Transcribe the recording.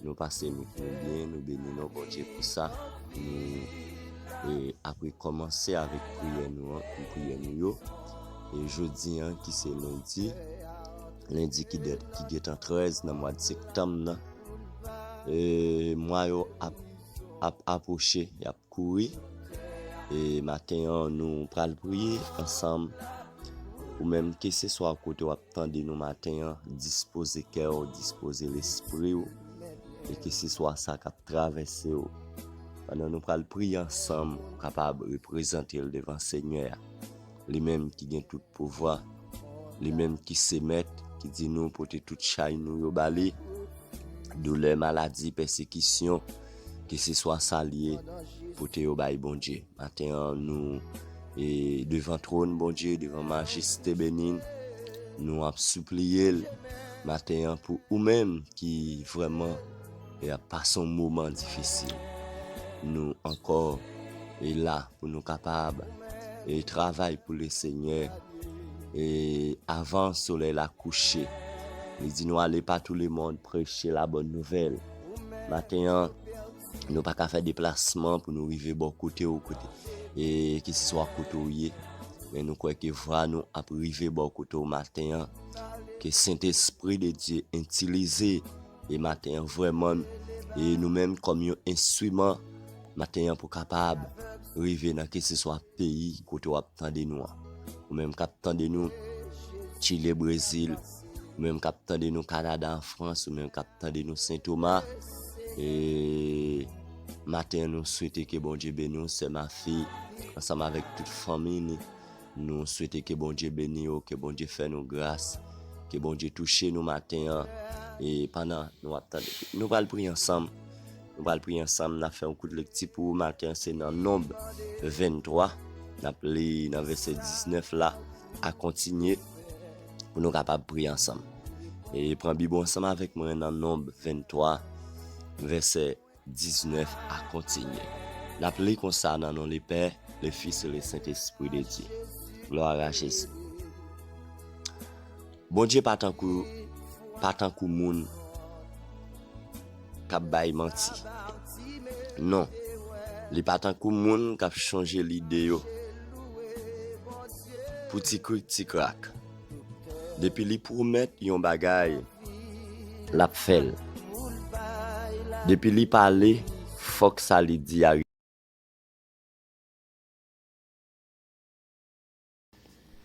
Nou pase nou tou byen nou beni non Bondye pou sa nou apre kòmanse avèk priyè nou an pou priyè nou yo e jodi an ki se lendi lendi ki dèt ki gentan 13 nan mwad sektanm nan e mwa yo ap ap apwoche yap kouri e maten an nou pral priye ansanm ou menm ke se swa kote wap Tande nou maten an, dispoze kè w, dispoze lespri w, e keseswa sa k ap travèse w, pandan nou pral priye ansanm, ou kapab reprezante l devan Senyè a, Li menm ki gen tout pouvwa, Li menm ki se Mèt, ki di nou pote tout chay nou yo ba Li, doulè, maladi, pèsekisyon, keseswa sal ye pote yo bay Bondye maten an nou e devan twòn Bondye devan majeste benin nou ap sipliye l maten an pou ou menm ki vrèman e ap pase yon moman difisil nou ankò e la pou nou kapab e travay pou le senyè e avan solèy la kouche li di nou ale pa tou le mond preche la bòn nouvèl. Maten an, nou pa ka fè deplasman pou nou rive bò kote ou kote. E ki se swa kote ou ye, men nou kwè ke vwa nou ap rive bò kote ou maten an. Ke Sentespri de Dye entilize e maten an vreman e nou menm kòm yon enstwiman maten an pou kapab rive nan ki se swa. peyi kote wap tande nou an ou menm kap tande nou chile brezil ou menm kap tande nou kanada an frans ou menm kap tande nou sentoma e maten an nou swete ke bondye beni nou sè ma fi ansanm avèk tout fanmi ni nou swete ke bondye beni yo ke bondye fè nou gras ke bondye touche nou maten an e pandan nou ap tande nou pral priye ansanm Nou pral priye ansanm, nap fè yon kout lekti pou ou maten an, se nan Nonb 23, nap li nan vèsè 19 la a kontinye pou nou kapab priye ansanm. E pran bib ou ansanm avèk mwen nan Nonb 23 vèsè 19 a kontinye. Nap li konsa nan non le Pè, le Fis e le Sentespri de Dye. Glwa a Jezi. Bondye pa tankou pa tankou moun kap bay manti non li pa tankou moun kap chanje lide yo pou ti krik ti krak depi li pwomèt yon bagay lap fèl depi li pale fòk sa li di a